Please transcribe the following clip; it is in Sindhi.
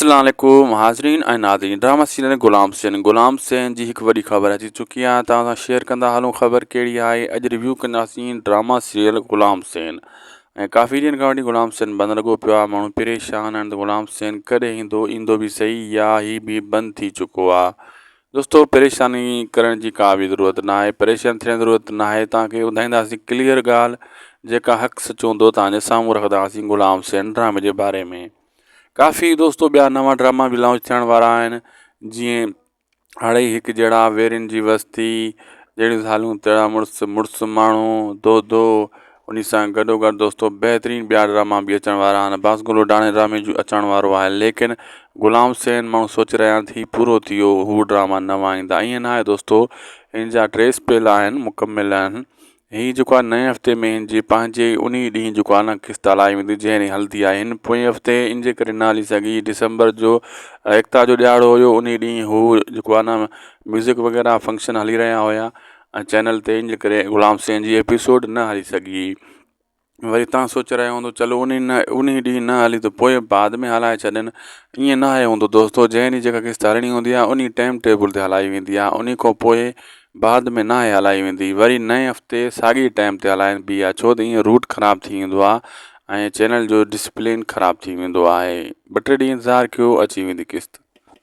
اسلام عليڪم حاضرين ۽ ناظرين ڊرامه سيريل غلام سين غلام سين جي هڪ وڏي خبر اچي چڪي آهي توهان سان شيئر ڪندا هلون خبر ڪهڙي آهي اڄ ريويو ڪنداسين ڊرامه سيريل غلام سين ۽ ڪافي ڏينهن کان وٺي غلام سين بند لڳو پيو آهي ماڻهو پريشان آهن ته غلام سين ڪڏهن ايندو ايندو به صحيح يا هي به بند ٿي چڪو آهي دوستو پريشاني ڪرڻ جي ڪا به ضرورت نه آهي پريشان ٿيڻ جي ضرورت نه آهي توهان کي ٻڌائينداسين ڪليئر ڳالهه جيڪا حق سچ هوندو توهان جي سامهون رکنداسين غلام سين ڊرامي جي باري ۾ ڪافي دوستو ٻيا نوان ڊراما به لانچ ٿيڻ وارا آهن جيئن اڙئي هڪ جهڙا ويرين جي وستي جهڙيون زالون تهڙا مڙس مڙس ماڻهو دودو ان سان گڏو گڏ دوستو بهترين ٻيا ڊراما به اچڻ وارا آهن باس گلو ڊاڻي ڊرامي جو اچڻ وارو آهي ليڪن غلام سين ماڻهو سوچي رهيا آهن ٿي پورو ٿي ويو هو ڊراما نوان ايندا ائين ناهي دوستو ان جا ٽي سپيل آهن مڪمل آهن هي جيڪو آهي نئين هفتي ۾ هن جي پنهنجي ئي انهي ڏينهن جيڪو آهي نه قسط هلائي ويندي جنهن ڏينهن هلندي آهي هن پوئين هفتي ان جي ڪري نه هلي سگهي ڊسمبر جو ايڪتا جو ڏهاڙو هيو انهي ڏينهن هو جيڪو آهي نه ميوزڪ وغيره فنڪشن هلي رهيا هيا ۽ چينل تي ان جي ڪري غلام سين جي ايپيسوڊ نه هلي سگهي وري تان سوچي رهيو هوندو چلو انهي نه انهي ڏينهن نه هلي ته پوء بعد ۾ هلائي ڇڏين ائين نه آهي هوندو دوستو جنهن ڏينهن جيڪا قسط هلڻي هوندي آهي انهي ٽيم ٽيبل تي هلائي ويندي آهي انهي کان پوء بعد ۾ نه آهي هلائي ويندي وري نئين هفتي ساڳي ٽيم تي هلائبي آهي ڇو ته ائين روٽ خراب ٿي ويندو آهي ۽ چينل جو ڊسپلين خراب ٿي ويندو آهي ٻه ٽي ڏينهن انتظار ڪيو اچي ويندي قسط.